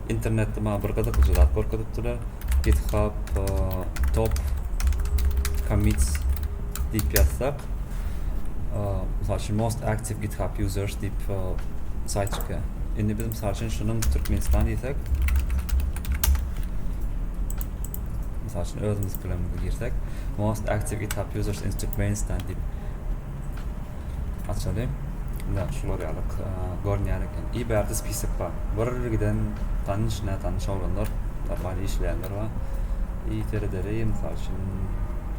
internetde maňa bir gyzyklyja zat görkezipdiler. GitHub e, top commits diýip ýazsak, e, mysal üçin most active GitHub users diýip e, saýt çykýar. Indi biz mysal üçin şunuň Türkmenistan diýsek, mysal üçin özümiz bilen girsek, most active GitHub users in Türkmenistan diýip Açaly. Ine, şular ýaly görünýär eken. I bärde spisok bar. Bir giden tanyş, nätanyş oglanlar, normal işleýänler bar. I seredeli, mysal üçin,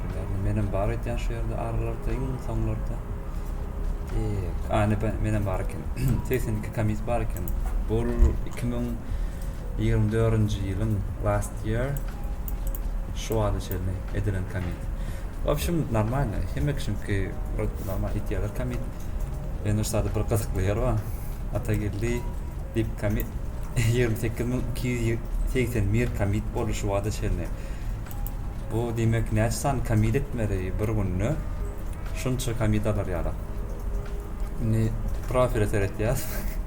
primärno menem bar edýän şu ýerde aralarda, iň soňlarda. E, ane menem bar eken. 82 komis bar eken. Bu 2024-nji ýylyň last Diýer. Şu wagta çenli edilen commit. W общem normalno. Hemme kişiňki wrot normal etýärler commit. Ýöne şu sada bir gyzykly ýer bar. Atageldi dip commit 28281 commit boldy şu wagta çenli. Bu diýmek näçe sany commit etmeli bir günde? Şunça commit alar ýaly. Indi profile seretýäs.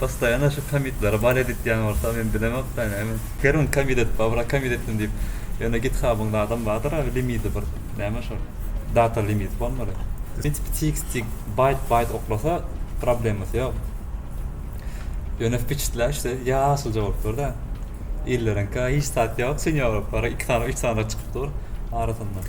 Postoýanno şu kommitlere bar editýän bolsa men bilemok da näme. Her gün kommit edip bar bura kommit etdim diýip ýöne githabyňda adam bardyr abi limidi bir näme şol data limit bolmaly. Prinsipi txt baýt baýt oklasa problemasy ýok. Ýöne wpiçitläşde ýaşylja bolup durda. Illeriňka hiç zat ýok sinýor bolup bar iki sanyk üç sanyk çykyp dur arasynda.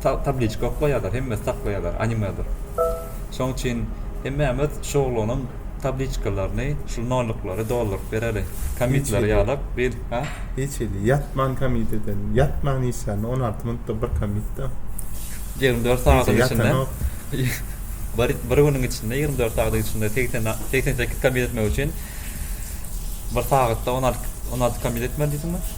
tabliçka oklaýarlar, hemmesi saklaýarlar, animedir. Şoň üçin hemmämiz şu oglanyň tabliçkalaryny, şu nollyklary dolduryp bereli. Komitlary ýalap, bir, ha? Hiç hili, ýatman komit eden, ýatman işlän, on alty minutda bir komit-de. Ýigrimi dört sagadyň içinde, bir, bir günüň içinde, ýigrimi dört sagadyň içinde segsen, segsen sekiz komit etmek üçin bir sagatda on alty, on alty komit etmeli diýdiňmi?